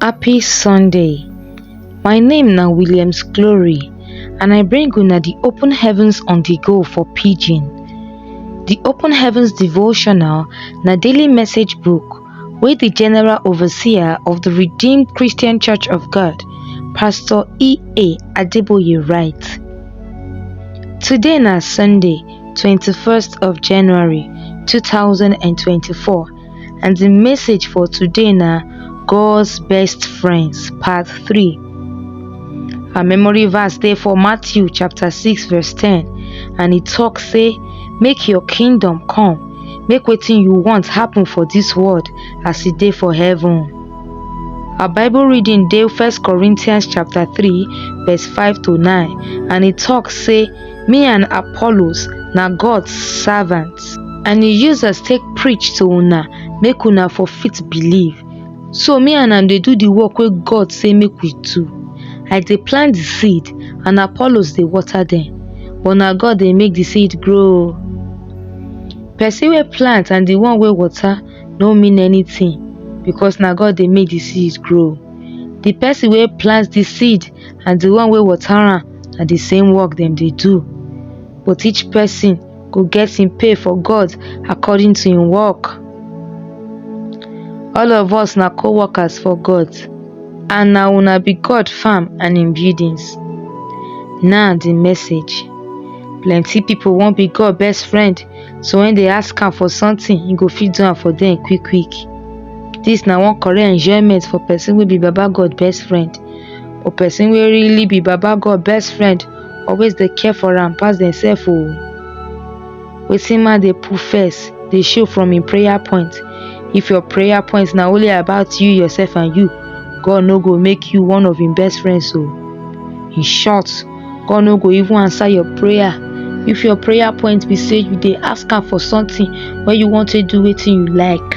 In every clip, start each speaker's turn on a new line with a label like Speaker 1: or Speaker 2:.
Speaker 1: Happy Sunday. My name na Williams Glory and I bring una the Open Heavens on the Go for Pidgin. The Open Heavens Devotional na daily message book wey the General Overseer of the Redeemed Christian Church of God, Pastor E.A. Adeboye write. Today na Sunday, 21st of January 2024 and di message for today na God's best friends part three. Our memory verse dey for Matthew chapter six verse ten and e talk say make your kingdom come make wetin you want happen for dis world as e dey for heaven. Our bible reading dey first Corinthians chapter three verse five to nine and e talk say Me and Apollos na God servants, and he use us take preach to una make una for fit believe. So me and am dey do the work wey God say make we do. I dey plant the seed and Apollos dey water dem, but na God dey make the seed grow. Person wey plant and the one wey water no mean anything because na God dey make the seed grow. The person wey plant the seed and the one wey water am na the same work dem dey do. But each person go get him pay for God according to him work. All of us na co-workers for God and na una be God farm and him buildings. Now the message. Plenty people wan be God best friend so when they ask am for something, he go fit do am for them quick quick. This na one correct enjoyment for person wey be Baba God best friend. or person wey really be baba God best friend always dey care for am pass demsef o. Wetin man dey put first dey show from im prayer point, if your prayer point na only about you, yourself and you, God no go make you one of im best friends o. In short, God no go even answer your prayer if your prayer point be sey you dey ask am for something wey you wan take do wetin you like.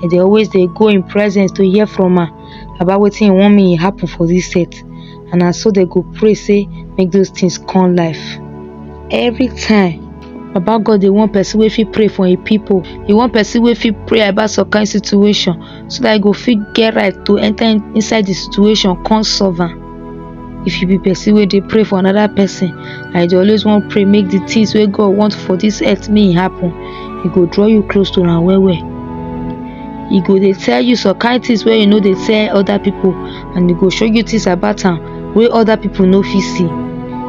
Speaker 1: dem dey always dey go im presence to hear from am about wetin e wan make e happen for dis earth and na so dem go pray say make those things come life. Every time baba God dey want person wey fit pray for im people, e want person wey fit pray about some kind situation so dat e go fit get right to enter inside the situation come solve am. if you be person wey dey pray for another person and you dey always wan pray make the things wey God want for this earth make e happen e go draw you close to am well well e go dey tell you some kind things wey you no dey tell other people and e go show you things about am wey other people no fit see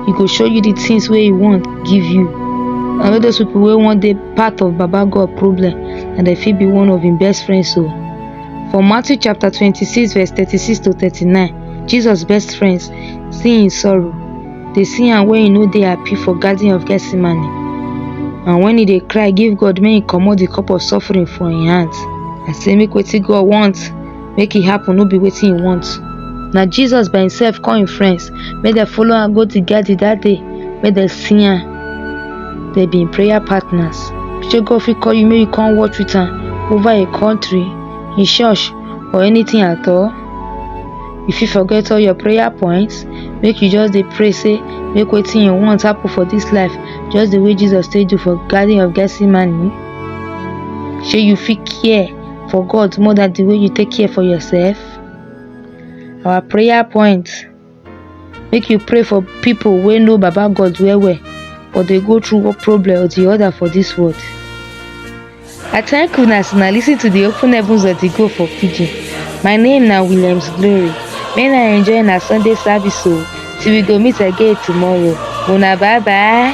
Speaker 1: e go show you the things wey e want give you and all those people wey wan dey part of baba God problem and dem fit be one of im best friends o for Matthew chapter twenty-six verse thirty-six to thirty-nine Jesus best friends see him sorrow, dey see am when he no dey happy for garden of Gethsemane and when he dey cry give God make he comot the cup of suffering for him hands and say make wetin God want make e happen no be wetin he want. Na Jesus by himself call him friends make dem follow am go the garden that day make dem see am. Dem be him prayer partners. Shey God fit call you make you come watch with am over a country, him church or anything at all? you fit forget all your prayer points make you just dey pray say make wetin you want happen for this life just the way jesus take do for garden of gethsemane shey you fit care for god more than the way you take care for yourself our prayer points make you pray for people wey know baba god well well but dey go through one problem or the other for this world i thank una as una lis ten to the open heavens of the go for pidgin my name na williams glory may una enjoy una sunday service o till we go meet again tomorrow una bye bye.